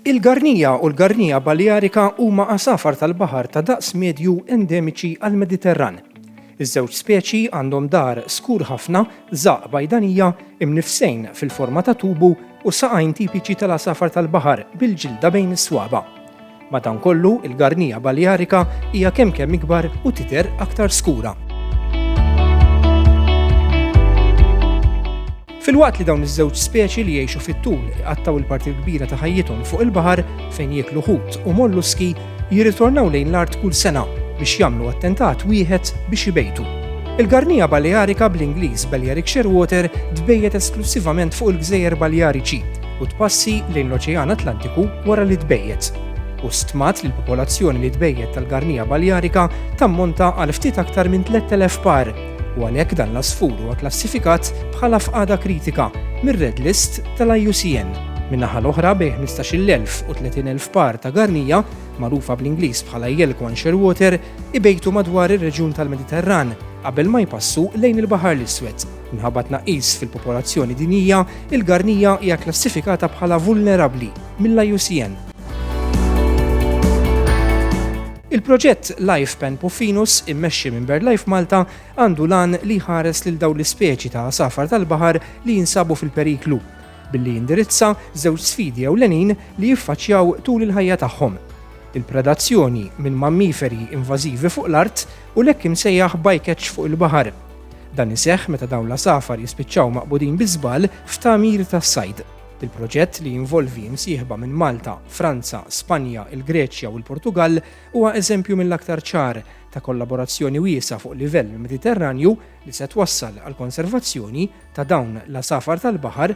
Il-garnija u l-garnija balearika huma għasafar tal-baħar ta' daqs medju endemiċi għall-Mediterran. Iż-żewġ speċi għandhom daħar skur ħafna, żaqq bajdanija, imnifsejn fil-forma ta' tubu u saqajn tipiċi tal-għasafar tal-baħar bil-ġilda bejn is-swaba'. Madankollu, il-Garnia balearica hija kemm kemm ikbar u tidher aktar skura. Filwaqt li dawn iż-żewġ speċi li jgħixu fit-tul iqattgħu l-parti l-kbira ta' ħajjithom fuq il-baħar fejn jieklu ħut u molluski, jirritornaw lejn l-art kull sena biex jagħmlu attentat wieħed biex ibejtu. Il-Garnia balearica bl-Ingliż Balearic Shearwater tbejjet esklussivament fuq il-Gżejjer Baleariċi, u tpassi lejn l-Oċean Atlantiku wara li tbejjet, u stmat li l-popolazzjoni li tbejjet tal-Garnia balearica tammonta għal ftit aktar minn 3,000 par, u għalhekk dan l-għasfur huwa kklassifikat bħala f'qagħda kritika mir-Red List tal-IUCN. Min-naħa l-oħra, bejn 15,000 u 30,000 par ta' Garnia, magħrufa bl-Ingliż bħala Yelkwan Shearwater, ibejtu madwar ir-reġjun tal-Mediterran qabel ma jpassu lejn il-Baħar l-Iswed. Minħabba tnaqqis fil-popolazzjoni dinjija, il-garnija hija kklassifikata bħala vulnerabbli mill-IUCN. Il-proġett Life Pan Puffinus, immexxi minn BirdLife Malta, għandu lan li jħares lil dawn l-ispeċi ta' għasafar tal-baħar li jinsabu fil-periklu, billi jindirizza żewġ sfidi ewlenin li jiffaċċjaw tul il-ħajja tagħhom, il-predazzjoni minn mammiferi invażivi fuq l-art u l-hekk imsejjaħ bycatch fuq il-baħar. Dan iseħħ meta dawn l-għasafar jispiċċaw maqbudin bi żball f'tagħmir tas-sajd. Il-proġett li jinvolvi imsieħba minn Malta, Franza, Spanja, il-Greċja u l-Portugall huwa eżempju mill-aktar ċar ta' kollaborazzjoni wiesa' fuq livell Mediterranju li se twassal għall-konservazzjoni ta' dawn l-għasafar tal-baħar